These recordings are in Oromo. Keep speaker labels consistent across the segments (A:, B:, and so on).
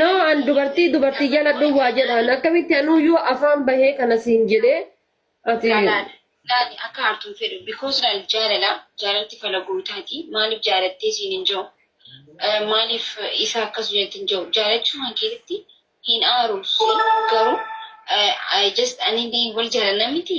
A: Noo an dubartii dubartii jaladhu waa jedhaan akkamitti anuuyyuu afaan bahee kana siin jedhee ati Laali
B: akka aartuun fedhu because laal jaalala jaalalti fala gootaati maaliif jaalattee siin hin jiru maaliif isa akkas jette hin jiru jaalachuu kan keessatti hin aaru garuu just ani wal jaalanna miti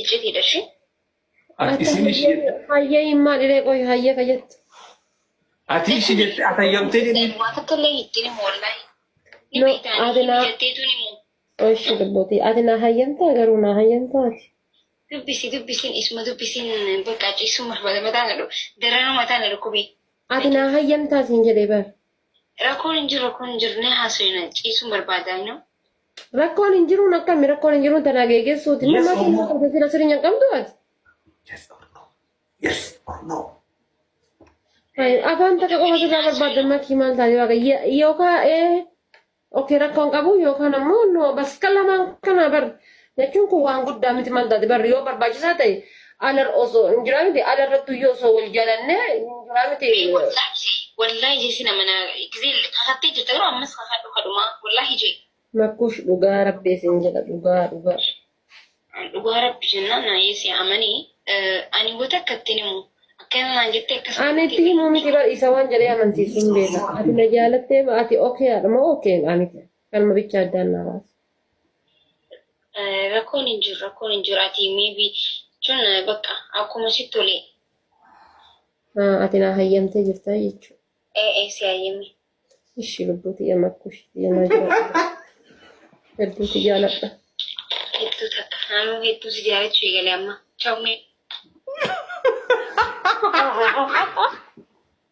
B: Iccitiidha ishee. Ati
C: isin ishii jette. Hayyee himmaa dhiree
A: qoy hayyee ka jettu. Ati
C: ishii jette atayyamtee jedhee. Waa takka illee ittiin
B: himu wallaahi. Ni No, beektaa ati ni
A: naa-
B: jetteetu ni himu. Oshi dubbotii
A: ati naa hayyamtaa garuu naa hayyamtaa ati. Dubbisi
B: dubbisiin isuma dubbisiin bakka ciisuma bada mataa na dhufu. Daranuu mataa na dhukkube. Ati naa hayyamtaa
A: siin jedhee bar. Rakkoon hin
B: jiru rakkoon hin jiru ni haasofna ciisuun barbaada inni. Rakkoon hin
A: jiruun akkami rakkoon hin jiruun tanaa geeggeessuuti. Yes, Mammaa Oromoo. kennaa qabda sila
C: sirinya
A: qabdu ati. Yes
C: or no? Yes or no? Ay, Afaan
A: takka qofa sirraa barbaaddan makkii maal taate waaqa Ye- yookaan ee okee rakkoon qabu yookaan ammoo no bas kan lamaan kana bar jechuun kun waan guddaa miti maal taate bar yoo barbaachisaa ta'e Alar osoo hin jiraa miti ala irratti iyyuu osoo wal jalanne hin jiraa miti. Ee wallaahi wallaahi
B: jesi nama na gizee kakattee jirta garuu ammas kakadhu kadhumaa wallaahi jee Makkuush dhugaa
A: rabbi isin jedha dhugaa dhugaa. dhugaa rabbi jennaan
B: na yesi amanii eh, ani wata akka ittiin himu akkana naan jettee akkasuma Ani itti himuu miti bar
A: isa waan jedhee amansiisuun beeka. Ati na jaalattee ma ati okeedha moo okeen miti. Kanuma bicha addaan naa baasa.
B: Rakkoon hin jiru rakkoon hin jiru ati maybe jechuun bakka akkuma sitti tole.
A: Ati naa hayyamtee jirtaa jechuudha. Ee ee si hayyame.
B: Ishi
A: lubbuuti yama kushi yama jira. Hedduuti jaaladha. Hedduu
B: takka naannoo hedduu si jaalachuu eegale amma. Chawmee.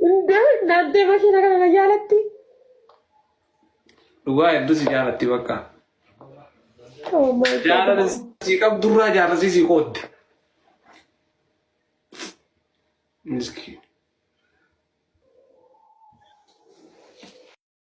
A: Hundee naaddee makiina kana na jaalatti.
C: Dhugaa hedduu si jaalatti bakka. Oh
A: my God. Jaalala si
C: qabdurraa jaalalli si qoodde. Miskiin.